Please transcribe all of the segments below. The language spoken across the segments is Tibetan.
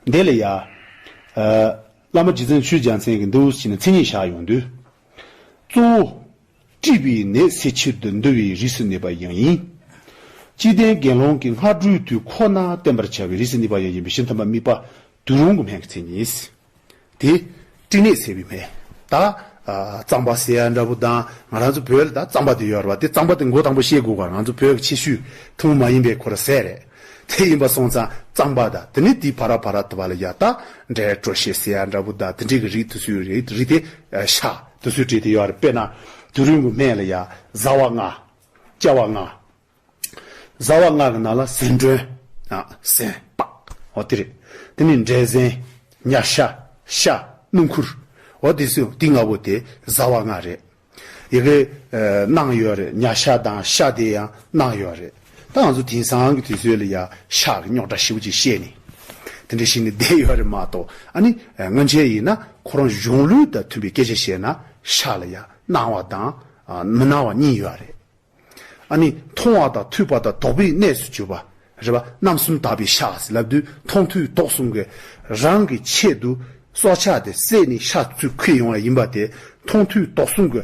བདེ་ལེགས་ཡ། བླ་མ་རྗེ་བཙུན་ཆོས་རྒྱལ་མཚན་གྱི་འདུལ་བ་ཞིག་ནས་མཚན་ཉིད་བཞག་ཡོང་དུས། གཙོ་བོ། དཀྲིས་པའི་ནད་སེལ་ཕྱིར་དུ་འདུལ་བའི་རིས་སུ་གནས་པ་ཡང་ཡིན། སྤྱི་བསྟན་དགེ་སློང་གི་སྔ་དྲོའི་དུས་ཁོ་ན་བསྟན་པར་བྱ་བའི་རིས་སུ་གནས་པ་ཡང་ཡིན་པས་ཤིན་ཐབས་མ་དམིགས་པ་དུས་རུང་གི་སྨན་གྱི་མཚན་ཉིད། དེ་སྤྲིན་ནད་སེལ་བའི་མེ། ད་གཙང་པ་ཟེར་ཡ་འདྲ་བོ་ད་ང་རང་ཚོ་བོད་ལ་ད་གཙང་པ་དེ་ཡོད་རེད་པ་དེ་གཙང་པ་དེ་མགོ་དང་པོ་ཤེས་དགོས་ག་ང་ཚོ་བོད་ཀྱི་ཆེ་ཤོས་ཐུང་ངུ་མ་ཡིན་པའི་གོ་ར་ཟེར་རེད་དེ་ཡིན་པ་སོང་ཙང་གཙང་པ་ད་དེ་ནས་དེ་བ་ར་བ་ར་ད་བ་ལ་ཡ་ད་འདྲའི་བྲོ་ཤེས་ཟེར་ཡ་འདྲ་བོ་ད་དེ་འདྲའི་གི་རིགས་དུ་སུའི་རིགས་རིགས་དེ་ཤ་དུ་སུའི་གྲས་དེ་ཡོད་རེད་དཔེར་ན་དུས་རིང་གི་སྨད་ལ་ཡ་བཟའ་བ་ལྔ་བཅའ་བ་ལྔ། བཟའ་བ་སྔགས་ཀྱི་ནང་ལ་ཟན་སྒྲོན། ཟན། པའོ། དེ་རེད། དེ་ནས་འབྲས་ཟན། མྱ་ཤ། ཤ། སྣུམ་ཁུར། འོ། དེ་སུ་དེ་ལྔ་པོ་དེ་བཟའ་བ་སྔགས་རེད། ཡི་གེ། གནང་ཡོད་རེད་མྱ་ཤ་དང་ཤ་དེ་ཡང་གནང་ཡོད་རེད། ད་ང་ཚོ་དེང་སང་གི་དུས་ཚོད་ལ་ཡ་ཤ་གི་རྙོག་དྲ་ཞིབ་ཅིག་བཤད་ནས། དེ་འདྲ་ཞིག་ནས་བསྡད་ཡོད་རེད་མ་གཏོགས་ཨ་ནི་སྔོན་ཆད་ཡིན་ན་ཁོ་རང་གཞུང་ལུགས་དང་མཐུན་པའི་སྐད་ཆ་བཤད་ན་ཤ་ལ་ཡ་གནང་བ་དང་མི་གནང་བ་གཉིས་ཡོད་རེད། ཨ་ནི། མཐོང་བ་དང་ཐོས་པ་དང་དོགས་པའི་གནས་སུ་གྱུར་པ། རེ་བ་རྣམ་གསུམ་དག་པའི་ཤ་ཟ་ལབ་དུས་མཐོང་ཐོས་དོགས་གསུམ་གས་རང་གི་ཆེད་དུ་སྲོག་ཆགས་དེ་བསད་ནས་ཤ་བཙོས་ཁུལ་ཡོང་བ་ཡིན་པ་དེ་མཐོང་ཐོས་དོགས་གསུམ་གྱི་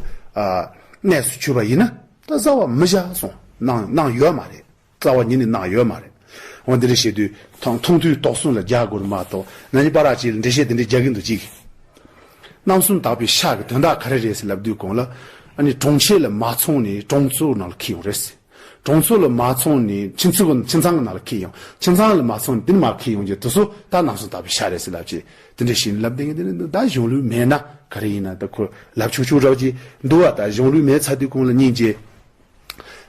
གནས་སུ་གྱུར་པ་ཡིན་ན་ད་བཟའ་བ་མི་བཞག་སོང་གནང་ཡོད་མ་རེད། རྩ་བ་ཉིད་ནས་གནང་ཡོད་མ་རེད། འོན་ཏེ་འགྲེལ་བཤད་དུས་དང་མཐོང་དུས་དོགས་ཟོན་ལ་རྒྱག་དགོས་རེད་མ་གཏོགས་ན་ནི་པ་རག་ཅིག་ལ་འགྲེལ་བཤད་དེ་འདྲས་རྒྱག་གི་འདུག་ཅིག། རྣམ་གསུམ་དག་པའི་ཤག་གི་དོན་དག་ག་རེ་རེད་ཟེར་ལབ་དུས་གོང་ལ། ཨ་ནི་གྲོང་ཁྱེར་ལ་མ་ཚོང་ནས་གྲོང་ཚོའི་ནང་ལ་ཁེལ་ཡོང་རེད་ཟེར། གྲོང་ཚོ་ལ་མ་ཚོང་ནས་ཁྱིམ་ཚང་གི་ནང་ལ་ཁེལ་ཡོང། ཁྱིམ་ཚང་ལ་མ་ཚོང་ནས་དེ་ནི་མ་ཁེལ་ཡོང་རྒྱུ་དེ་ཚོ་ད་རྣམ་གསུམ་དག་པའི་ཤག་རེད་ཟེར་ལབ་ཅིག་དེ་འདྲས་ཤིག་ནི་ལབ་བསྡད་ཀྱི་འདུག་ད་གཞུང་ལུགས་མེད་ན་ག་རེ་ཡིན་ན་ད་ཁོས་ལབ་ཆུག་ཆུག་རོགས་ཀྱིས་འདུག་ཨ་ད་གཞུང་ལུགས་མེད་ཚར་དུས་གོང་ལ་སྙིང་རྗེ།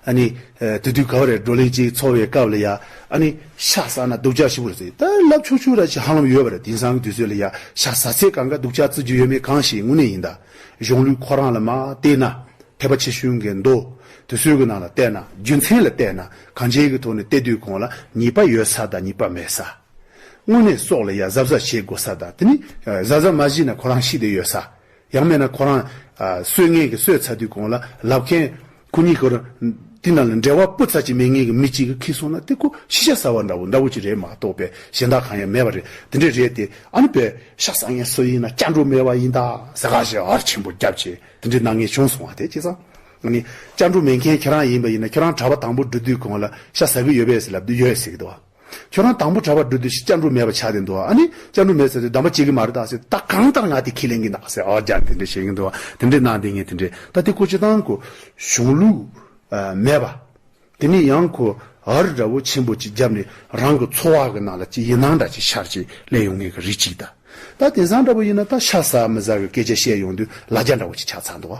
ཨཱ་ནི། དེ་དུས་ག་བ་རེ་བགྲོ་གླེང་ཅིག་འཚོགས་བའི་སྐབས་ལ་ཡ། ཨཱ་ནི། ཤ་ཟ་ན་སྡུག་ཅག་ཞིག་པོ་རེད་ཟེར་ད་ལབ་ཆུག་ཆུག་ར་ཅིག་ཧ་ལམ་ཡོད་པ་རེད་དེང་སང་གི་དུས་ཚོད་ལ་ཡ། ཤ་ཟ་ཚད་གང་ག་སྡུག་ཅག་རྩི་རྒྱུ་ཡོད་མེད་གང་ཞིག་དངོས་གནས་ཡིན་ད། གཞུང་ལུགས་ཁོ་རང་ལ་མ་བལྟས་ན། ཐེག་པ་ཆེ་ཤོས་འགའི་མདོ། དུས་ཚོད་ཀྱི་ནང་ལ་བལྟས་ན་རྒྱུ་མཚན་ལ་བལྟས་ན་གང་བྱས་ཀྱི་ཐོག་ནས་བལྟས་དུས་གོང་ལ་ཉེས་པ་ཡོད་ས་དང་ཉེས་པ་མེད་ས། དངོས་གནས་སྲོག་ལ་ཡ་གཟབ་གཟབ་བྱེད་དགོས་ས་དང་དེ་ནི་གཟབ་གཟབ་མ་བྱས་ན་ཁོ་རང་ཤི་བསྡད་ཡོད་ས། ཡང་མེད་ན་ཁོ་རང། སོས་ངན་གྱི་སོས་ཚ་དུས་གང་ལ་ལབ་མཁན། ཁོ་གཉིས་ཀར། དེ་ན་ལ་འབྲེལ་བ་སྤུ་ཚ་གཅིག་མེད་ངེས་ཀྱི་མི་གཅིག་ཁེལ་སོང་ན་དེ་ཁོ་ཤི་ཤ་ཟ་བ་འདྲ་བོ་འདྲ་བོ་ཅིག་རེད་མ་གཏོགས་པའི་གཞན་དག་གང་ཡང་མེད་པ་རེད་དེ་འདྲས་རེད་དེ་ཨ་ནི་བོད། ཤ་ཟ་མཁན་སུ་ཡིན་ན་སྐྱ་འགྲོ་མེད་པ་ཡིན་ད་ཟེ་ཁ་ཞེ་ཨར་ཆེན་པོ་རྒྱབ་ཆེ་དེ་འདྲས་སྣང་ངེས་བྱུང་སོང་བ་དེ་ཅི་ཙང། ཨ་ནི། སྐྱ་འགྲོ་མེད་མཁན་ཁྱེད་རང་ཡིན་པ་ཡིན་ན་ཁྱེད་རང་གྲྭ་པ་དང་པོ་འགྲོ་དུས་གང་ལ་ཤ་ཟ་གི་ཡོད་པས་ཟེ་ལབ་དུས་ཡོད་ཟེ་གི་འདུག་བ། ཁྱོད་རང་དང་པོ་གྲྭ་བ་འགྲོ་དུས་ཤིག་ལྕགས་འབྲུག་མེད་པ་ཆགས་ཏེ་འདུག་ཨ་ནི་ལྕགས་འབྲུག་མེད་ཟེར་ཏེ་འདམ་པ་བྱེད་གི་མ་རེད་ད་ཟེར་ད་གང་ལྟར་ང་དེ་ཁས་ལེན་གི་འདུག་ཟེར་ཨོ་རྒྱ་དེ་འདྲས་བྱེད་གི་འདུག་དེ་འདྲས་གནང་དེ་ངས་དེ་འདྲས་ད་དེ་ཁོ་ཆེ་ཐང་ཁོ་གཞུང་ལུགས་མེད་པ་དེ་ནས་ཡང་ཁོ་ཨར་འདྲ་བོ་ཆེན་པོ་ཅིག་རྒྱབ་ནས་རང་གི་འཚོ་བ་གི་ནང་ལ་ཅི་ཡི་ནང་འདྲ་ཅིག་ཤར་ཅིག་གླས་ཡོང་ངེས་གི་རེད་ཅིག་ད་ད་དེང་སང་འདྲ་བོ་ཡིན་ན་ད་ཤ་ཟ་མི་ཟ་གི་སྐད་ཆ་བཤད་ཡོང་དུས་ལ་རྒྱ་འདྲ་བོ་ཅིག་ཆགས་ཚར་འདུག་ཨ་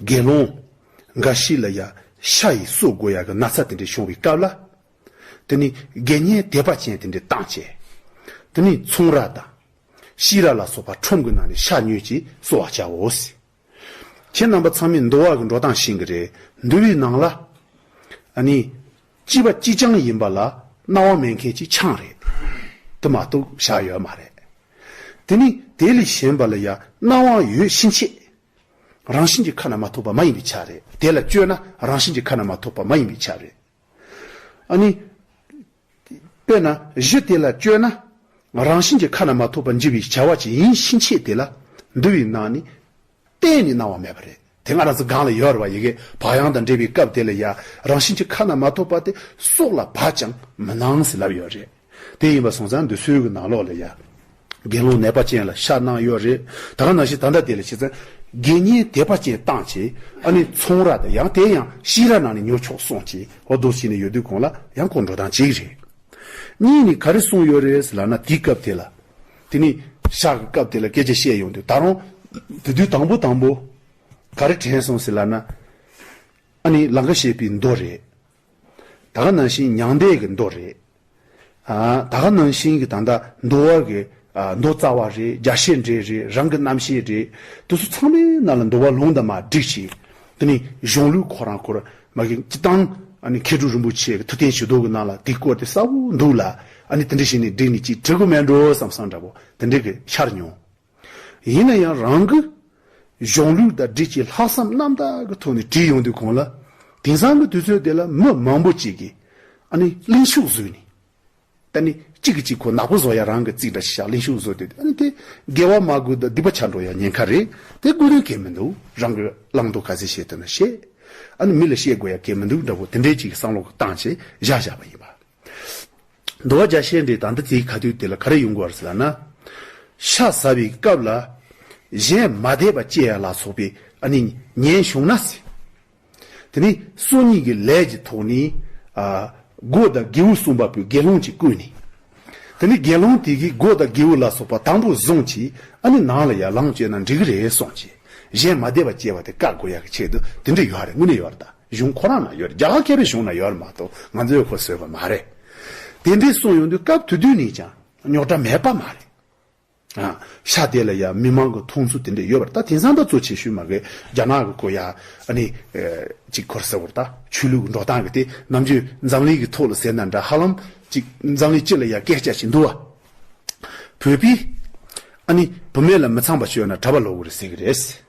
དགེ་སློང་འགའ་ཞིག་ལ་ཡང་ཤ་ཡི་གསོད་དགོས་ཡག་གི་ན་ཚ་དེ་འདྲ་བྱུང་བའི་སྐབས་ལ། དེ་ནི་དགེ་བསྙེན་དད་པ་ཅན་དེ་འདྲས་བཏང་བྱས། དེ་ནས་ཚོང་ར་དང། ཤི་ར་ལ་སོགས་པ་ཁྲོམ་གྱི་ནང་ནས་ཤ་ཉོས་ཀྱིས་གསོ་བར་བྱའོ། ཁྱེད་རྣམ་པ་ཚང་མས་འདུལ་བ་གྱི་འགྲོ་སྟངས་ཤེས་ཀྱི་རེད། འདུལ་བའི་ནང་ལ། ནི། སྐྱིད་པ་སྐྱིད་ཆང་ཡིན་པ་ལ་སྣང་བ་མེད་མཁན་གྱི་ཆང་རེད། དེ་མ་གཏོགས་ཤ་ཡོད་མ་རེད། དེ་ནི་དེ་ལས་གཞན་པ་ལ་ཡང་སྣང་བ་ཡོད་ཕྱིན་ཆད། རང་བཞིན་གྱི་ཁ་ན་མ་ཐོ་བ་མ་ཡིན་པའི་ཆ་རེད། དེ་ལ་སྤྱོད་ན་རང་བཞིན་གྱི་ཁ་ན་མ་ཐོ་བ་མ་ཡིན་པའི་ཆ་རེད། ཨ་ནི། དཔེར་ན་གཞི་དེ་ལ་སྤྱོད་ན་རང་བཞིན་གྱི་ཁ་ན་མ་ཐོ་བ་འཇིག་པའི་བྱ་བ་ཅི་ཡིན་ཕྱིན་ཆད་དེ་ལ་འདུ་བའི་སྣང་ནི་གཏན་ནས་སྣང་བ་མེད་པ་རེད། དེ་སྔ་རང་ཚིག་སྒང་ལ་ཡོད་ར་བ་ཡི་གེ་བག་ཡངས་དང་འབྲེལ་བའི་སྐབས་དེ་ལ་ཡང་རང་བཞིན་གྱི་ཁ་ན་མ་ཐོ་བ་དེ་སྲོག་ལ་བག་ཀྱང་མི་སྣང་ཟེར་ལབ་ཡོད་རེད། དེ་ཡིན་པ་སོང་ཙང་འདོད་ཚུལ་གྱི་ནང་ལོགས་ལ་ཡ། དགེ་སློང་ནད་པ་ཅན་ལ་ཤ་གནག་གཡོག་རེ་ད་ག་ན་ཞིག་ད་འདྲ་དེ་ལ་བྱས་ཙང། དགེ་བསྙེན་དད་པ་ཅན་བཏང་བྱས་ཨ་ནི་ཚོང་ར་དང་ཡང་དེ་ཡང་ཤི་ར་ནང་ནས་ཉོ་ཆོག་སོང་བྱས་ཧོ་རྡོ་ཕྱི་ནས་ཡོད་དུས་གོང་ལ་ཡང་ཁོ་འགྲོ་སྟངས་གཅིག་རེད། གཉིས་ནི་ག་རེ་གསུངས་ཡོད་རེད་ལ་ན་དེ་སྐབས་དེ་ལ། དེ་ནི་ཤག་གི་སྐབས་དེ་ལ་སྐད་ཆ་བཤད་ཡོང་དུས་ད་རུང་དེ་དུས་དང་པོ་དང་པོ། ག་རེ་དྲན་སོང་ཟེར་ལ་ན། ཨ་ནི་ལང་ཀ་བཤད་པའི་མདོ་རེད། ད་ག་ནང་བཞིན་མྱང་འདས་ཀྱི་མདོ་རེད། ད་ག་ནང་བཞིན་གྱི་ད་ལྟ་འདོ་བ་གི་མདོ་རྩ་བ་རེད་རྒྱ་བཤད་འབྲེལ་རེད་རང་གི་རྣམ་ཤེས་རེད་དེ་ཚོ་ཚང་མའི་ནང་ལ་འདོ་བ་ལུང་དང་མ་བསྒྲིགས་ཤིང་དེ་ནི་གཞུང་ལུགས་ཁོ་རང་ཁོར་མ་གི་སྤྱི་བཏང་ཨ་ནི་མཁས་གྲུབ་རིན་པོ་ཆེ་གི་ཐུགས་རྟེན་བྱི་དོར་གི་ནང་ལ་དེ་བཀོད་དེ་གསལ་བོ་འདུག་ལ་ཨ་ནི་དེ་འདྲ་ཞིག་ནས་བསྒྲིགས་ནས་ཅིག་བྲི་དགོས་མེད་འགྲོ་བསམ་བསམ་འདྲ་བོ་དེ་འདྲ་གི་ཤར་མྱོང། ཡིན་ན་ཡང་རང་གི་གཞུང་ལུགས་ཟླ་སྒྲིལ་གྱི་ལྷག་བསམ་རྣམ་དག་གི་ཐོག་ནས་བྲིས་ཡོང་དུས་གོང་ལ་དེང་སང་གི་དུས་ཚོད་དེ་ལ་མི་མང་པོ་ཅིག་གིས་ཨ་ནི་གླིང་ཤུག་བཟོས་ནས་ད་ནི་གཅིག་གིས་གཅིག་ཁོ་ནག་པོ་བཟོ་ཡ་རང་གི་རྩིག་འདྲ་ཞིག་བཞག་གླིང་ཤུག་བཟོ་དེ་ཨ་ནི་དེ་དགེ་བ་མ་དགོས་ད་སྡིག་པ་བྱ་འགྲོ་ཡ་ཉེན་ཁ་རེད་དེ་དགོས་དོན་གལ་མི་འདུག་རང་གི་བླང་དོར་ག་ཚད་བཤད་འདོད་ན་བཤད་ཨ་ནི་མི་ལ་བཤད་དགོས་ཡ་གལ་མི་འདུག་འདྲ་བོ་དེ་འདྲའི་ཅིག་གི་བསམ་བློ་གི་སྟངས་ཆེད་བཞག་བཞག་པ་ཡིན་པ། འདུལ་བ་བརྒྱ་བཤད་འབྲས་དང་འདི་དེའི་ཁ་དུས་དེ་ལ་ག་རེ་ཡོང་གི་བར་ཟེར་ན། ཤ་ཟ་བའི་སྐབས་ལ། གཞན་མ་དད་པ་སྐྱེ་ཡ་ལ་སོགས་པའི་ཨ་ནི་ཉན་བྱུང་ན་ཟེར། དེ་ནས་སྲོག་སྙིང་གི་ལས་ཀྱི་ཐོག་ནས། སྒོ་དང་སྒེའུ་གསུམ་པ་པོའི་དགེ་སློང་གཅིག་བསྐོས་ནས། དེ་ནས་དགེ་སློང་དེ་གིས་སྒོ་དང་སྒེའུ་ལ་སོགས་པ་དང་པོ་བཟུང་གིས་ཨ་ནི་ནང་ལ་ཡར་ལངས་བྱས་ན་འགྲིག་གི་རེད་གསུངས་ཀྱིས་གཞན་མ་དད་པ་སྐྱེ་བ་དེ་བཀག་དགོས་ཡ་གི་ཆེད་དུ་དེ་འདྲ་ཡོད་རེད་དངོས་གནས་ཡོད་རེད་ད། གཞུང་ཁོ་རང་ན་ཡོད་རྒྱ་གར་མཁས་པའི་གཞུང་ན་ཡོད་མ་གཏོགས་ང་ཚོས་ཁོ་བཟོས་པ་མ་རེད། དེ་འདྲས་གསུངས་ཡོང་དུས་སྐབས་དུས་དུས་ནས་ཀྱང་རྙོག་དྲ་མེད་པ་མ་རེད། ཤ་དེ་ལ་ཡང་མི་མང་གི་མཐོང་ཚུལ་དེ་འདྲས་ཡོད་པར་ད་དེང་སང་འདྲ་བཙོ་བྱེད་ཤུལ་མ་གས་རྒྱ་ནག་གི་གོ་ཡ་ནི་ཅིག་ཁོར་ཟེར་བར་ད་ཆོས་ལུགས་ཀྱི་འགྲོ་སྟངས་གི་དེ་རྣམས་ཆོས་འཛམ་གླིང་གི་ཐོག་ལ་ཟེར་ན་འདྲ་ཧ་ལམ་ཅིག་འཛམ་གླིང་སྤྱི་ལ་ཡང་སྐད་ཆ་བྱེད་འདུག་བ། བོད་པའི་ཨ་ནི་བུ་མེད་ལ་མི་ཚངས་པ་སྤྱོད་ན་གྲ་པ་ལོག་གི་རེད་ཟེར་གི་རེད།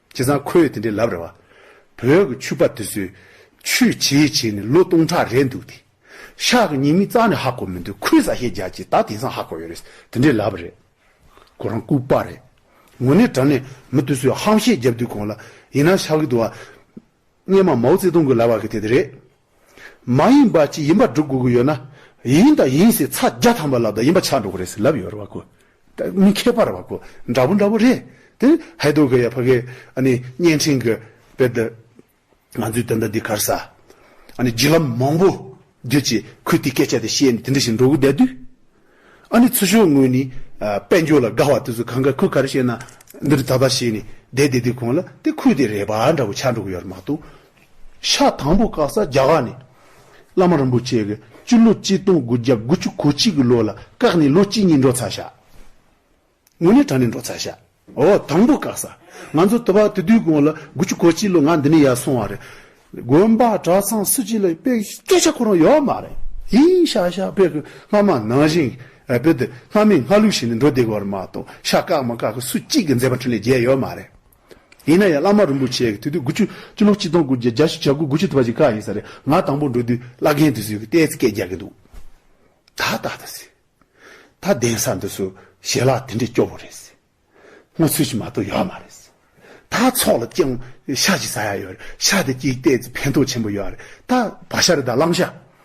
བྱས་ཙང་ཁོས་དེ་འདྲའི་ལབ་རེ་བ། བོད་ཀྱི་ཆུ་པ་དེ་ཚོས་ཆུས་བྱས་བྱས་ནས་ལོ་སྟོང་ཕྲག་རེད་འདུག་དེ། ཤག་གི་ཉེས་མིང་རྩ་ནས་ཧ་གོ་མི་འདུག་ཁོས་བཟའ་ཤེས་རྒྱག་ཅེས་ད་དེང་སང་ཧ་གོ་ཡོད་རེད་དེ་འདྲའི་ལབ་རེད། ཁོ་རང་ལྐུགས་པ་རེད། ངོ་ནས་དྲན་ནས་མི་དེ་ཚོས་ཧམ་བཤད་རྒྱབ་དུས་གོང་ལ་ཡིན་ན་ཤག་གི་དུ་བ། སྙེ་མ་མའོ་ཙེ་ཏུང་གི་ལབ་བ་གི་དེ་དེ་རེད། མ་ཡིན་པ་གཅིག་ཡིན་པར་སྒྲུབ་དགོས་ཀྱི་ཡོད་ན། ཡིན་དང་ཡིན་ཟེར་ཚ་རྒྱ་ཐམས་པ་ལབ་དང་ཡིན་པ་ཆགས་འགྲོ་གི་རེད་ཟེར་ལབ་ཡོད་རེད་བ་གོ། མི་མཁས་པར་བ་གོ། འདྲ་བོ་འདྲ་བོ་རེད། དེ་ནི་ཧའེ་རྡོ་གི་ཡ་ཕ་གའི་ཨ་ནི་བརྙན་འཕྲིན་གྱི་དཔེ་དེ། ང་ཚོའི་དེ་འདྲ་འདི་གར་ཟ། ཨ་ནི་བརྒྱུད་ལམ་མང་པོ་བརྒྱུད་ཅེས་ཁོས་དེའི་སྐད་ཆ་དེ་བཤད་ནས་དེ་འདྲ་ཞིག་འགྲོ་གི་བསྡད་དུས། ཨ་ནི་ཚུར་ཤོག་ངོས་ནས་དཔལ་འབྱོར་ལ་དགའ་བ་དེ་ཚོ་གང་ག་ཁོས་ག་རེ་བཤད་ན་འདི་འདྲ་ད་ལྟ་བཤད་ནས་བསྡད་བསྡད་དུས་གོང་ལ་དེ་ཁོས་དེ་རེད་བ་འདྲ་བོ་ཆགས་འགྲོ་གི་ཡོད་རེད་མ་གཏོགས་ཤ་དང་པོ་བཀག་ས་རྒྱ་གར་ནས་བླ་མ་རིན་པོ་ཆེ་གི་སྤྱི་ལོ་གཅིག་སྟོང་དགུ་བརྒྱ་དགུ་བཅུ་གོ་གཅིག་གི་ལོ་ལ་བཀག་ནས་ལོ་གཅིག་གཉིས་འགྲོ་ཚར་ཤག་ངོ་ནས་དྲ་ནས་འགྲོ་ཚར་ཤག་འོ་དང་པོ་བཀག་ས་ང་ཚོ་དུ་བ་དུ་དུས་གོང་ལ་དགུ་བཅུ་གོ་གཅིག་ལོ་ང་འདི་ནས་ཡར་སོང་བ་རེད་དགོན་པ་གྲྭ་ཚང་སུ་གཅིག་ལ་དཔེ་སྐད་ཆ་ཁོ་རང་ཡོད་མ་རེད་ཧིན་ཤག་ཤག་དཔེ་གི་སྔ་མ་ནང་བཞིན་དཔེ་དེ་སྔ་མའི་སྔ་ལུགས་བཞིན་ནས་འགྲོ་བསྡད་གི་བ་རེད་མ་གཏོགས་ཤག་བཀག་མ་བཀག་གི་སུ་གཅིག་གི་མཛད་པ་འཕྲིན་ལས་རྒྱས་ཡོད་མ་རེད། ཡིན་ན་ཡང་བླ་མ་རིན་པོ་ཆེ་གི་དུས་དུས་དགུ་བཅུ་བཅུ་ལོ་གཅིག་སྟོང་དགུ་བརྒྱ་བརྒྱ་ཞེ་བརྒྱ་དགུ་དགུ་བཅུ་དུ་བ་ཞིག་ཀ་ཡིན་ས་རེད་ང་དང་པོ་འགྲོ་དུས་བླ་རྒན་དུས་སུ་ཡི་གི་ལྟས་སྐད་རྒྱག་གིན་འདུག་ད་ལྟ་ད་ཟེར། ད་གདན་ས་འདི་སུ་ཞལ་ལག་དེ་འདྲས་སྐྱོ་བོ་རེད་ཟེར། སྔོ་ཚོད་ཞིག་མ་གཏོགས་ཡོད་མ་རེད་ཟེར། ད་ཚོགས་ལ་སྤྱང་ཤ་ཞིག་ཟ་ཡ་ཡོད་རེད་ཤ་དེ་སྐྱིད་ལྟས་ཚེ་ཕན་ཐོག་ཆེན་པོ་ཡོད་རེད་ད་བ་ཤ་རེད་ད་གླང་ཤ།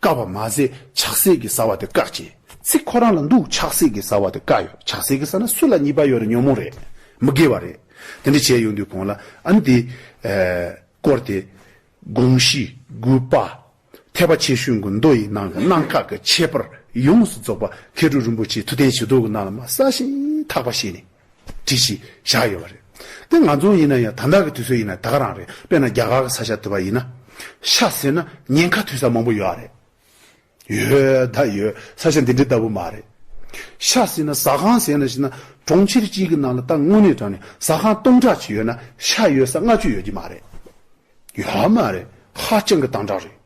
བཀག་པ་མ་ཟད་ཆགས་སྲེད་ཀྱི་ཟ་བ་དེ་བཀག་ཅིང་ཚིག་ཁོ་རང་ལ་འདུག་ཆགས་སྲེད་ཀྱི་ཟ་བ་དེ་བཀག་ཡོད་ཆགས་སྲེད་ཀྱི་ཟ་ན་སུ་ལ་གཉིས་པ་ཡོད་རེད་ཉོན་མོངས་རེད་མི་དགེ་བ་རེད་དེ་འདྲ་བྱས་ཡོང་དུས་གོང་ལ་ཨ་ནི་དེ། བསྐོར་ཏེ། དགོངས་གཞི། དགུ་པ། ཐེག་པ་ཆེ་ཤོས་གུ་མདོ་ཡི་ནང་གི་གནང་བཀག་གི་ཁྱད་པར་ཡོངས་སུ་རྫོགས་པ་མཁས་གྲུབ་རིན་པོ་ཆེའི་ཐུགས་རྟེན་བྱི་དོར་གྱི་ནང་ལ་མ་གསལ་ཞིང་དག་པ་བཞེས་ནས། བྲིས་ཤིག་བཞག་ཡོད་པ་རེད། དེ་ང་ཚོ་ཡིན་ན་ཡང་དམ་དྲག་གི་དུས་ཚོད་ཡིན་ན་དག་རང་རེད་དཔེར་ན་རྒྱ་གར་གི་ས་ཆ་དེ་བ་ཡིན་ན། ཤ་ཟེར་ན་ཉེན་ཁ་ཐོས་ས་མང་པོ་ཡོད་རེད། ཡོད་ད་ཡོད་ས་ཆ་འདི་འདྲི་ལྟ་བུ་མ་རེད། ཤ་ཟེར་ན་ཟ་ཁང་ཟེར་ན་ཞིག་ན་གྲོང་ཁྱེར་གཅིག་གི་ནང་ལ་ད་དངོས་གནས་དྲང་ནས་ཟ་ཁང་སྟོང་ཕྲག་གཅིག་ཡོད་ན་ཤ་ཡོད་ས་ལྔ་བཅུ་ཡོད་ཀྱི་མ་རེད། ཡོད་མ་རེད་ཧ་ཅང་གི་དང་དྲག་རེད།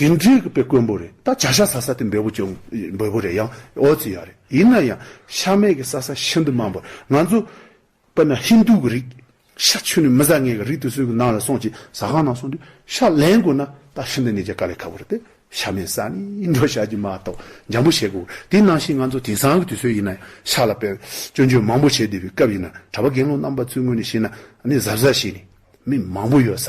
དེ་འདྲའི་བཀོད་པས་དཀོན་པོ་རེད་ད་བྱ་ཤ་ཟ་ས་དེ་འབེལ་པོ་ཅུང་འབོལ་པོ་རེད་ཡང་ཨོ་ཙི་ཡག་རེད་ཡིན་ན་ཡང་ཤ་མེད་ཀྱི་ཟ་ས་ཤིན་ཏུ་མང་པོར་ང་ཚོ་དཔེར་ན་ཧིན་དུ་གི་རིགས་ཤ་ཆུ་ནས་མི་ཟ་ངེས་ཀྱི་རིགས་དེ་ཚོའི་གི་ནང་ལ་སོང་ཅིག་ཟ་ཁང་ནང་སོང་དུས་ཤ་ལེན་དགོས་ན་ད་ཤིན་ཏུ་ནས་ཀྱི་དཀའ་ལས་ཁག་པོ་རེད་དེ་ཤ་མེད་ས་ནི་འགྲོ་ཤ་གྱི་མ་གཏོགས་འཇམ་པོ་བྱེད་དགོས་པོ་རེད་དེ་ནང་བཞིན་ང་ཚོ་དེང་སང་གི་དུས་ཚོད་ཡིན་ན་ཡང་ཤ་ལ་དཔེར་སྐྱོན་བརྗོད་མང་པོ་བྱེད་བདེ་བའི་སྐབས་ཡིན་ན་གྲྭ་པ་རྒན་ལོ་རྣམ་པ་ཚོའི་ངོས་ནས་བཤད་ན་ནི་གཟབ་གཟབ་བྱས་ནས་མི་མང་པོ་ཡོད་ས་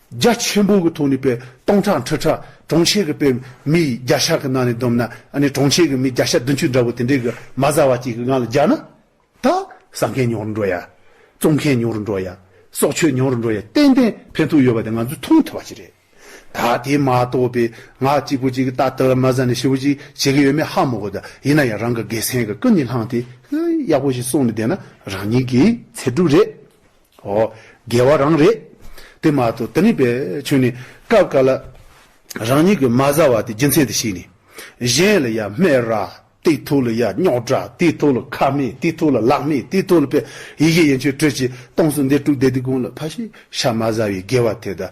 རྒྱ་ཆེན་པོ་གི་ཐོག་ནས་པའི་སྟོང་ཕྲག་འཁྲི་ཕྲག་གྲོང་ཁྱེར་གི་པའི་མི་ཡིས་རྒྱ་ཤ་གི་ནང་ནས་བསྡོམས་ན་ཨ་ནི་གྲོང་ཁྱེར་གི་མི་བརྒྱ་ཤ་བདུན་ཅུ་འདྲ་བོ་དེ་འདྲས་གི་མ་བཟའ་བ་གཅིག་གི་ངང་ལ་རྒྱག་ན། ད་ཟ་མཁན་ཉུང་རུ་འགྲོ་ཡ། བཙོང་མཁན་ཉུང་རུ་འགྲོ་ཡ། གསོག་ཆོད་ཉུང་རུ་འགྲོ་ཡ་ཏན་ཏན་ཕན་ཐོག་ཡོད་པ་དེ་ང་ཚོས་མཐོང་ཐུབ་པ་ཞིག་རེད། ད་དེ་མ་གཏོགས་པའི་ང་གཅིག་པུ་གཅིག་གི་ཏག་ཏག་མ་བཟའ་ནས་ཞི་བོ་གཅིག་བྱེད་གི་ཡོད་མེད་ཧ་མོ་གོ་ད་ཡིན་ན་ཡང་རང་གི་དགེ་མཚན་གི་ཀུན་ནས་བསླངས་ཏེ་ཡག་པོ་ཞིག་གསུངས་ནས་བསྡད་ན་རང་ཉིད་ཀྱི་ཚེ་སྒྲུབ་རེད། ཨོ། རྒྱལ་བ་རང་རེད། དེ་མ་གཏོགས་དེ་ནི་པའི་ཆོས་ནི། སྐབས་འགའ་ལ། རང་ཉིད་ཀྱི་མ་བཟའ་བ་དེ་རྒྱུ་མཚན་དུ་བྱས་ནས། གཞན་ལ་ཡང་སྨད་ར། དེའི་ཐུགས་ལ་ཡང་རྙོག་དྲ། དེའི་ཐུགས་ལ་ཁ་མེད། དེའི་ཐུགས་ལ་ལག་མེད། དེའི་ཐུགས་ལ་པའི་ཡི་གེ་ཡན་ཆོད་གྲོལ་གྱི་སྟོངས་སུ་འདས་དཀྲུགས་འདས་སྡིག་ཀུན་ལ་ཕ་ཤི་ཤ་མ་བཟའ་བའི་རྒྱལ་བ་དེ་དང།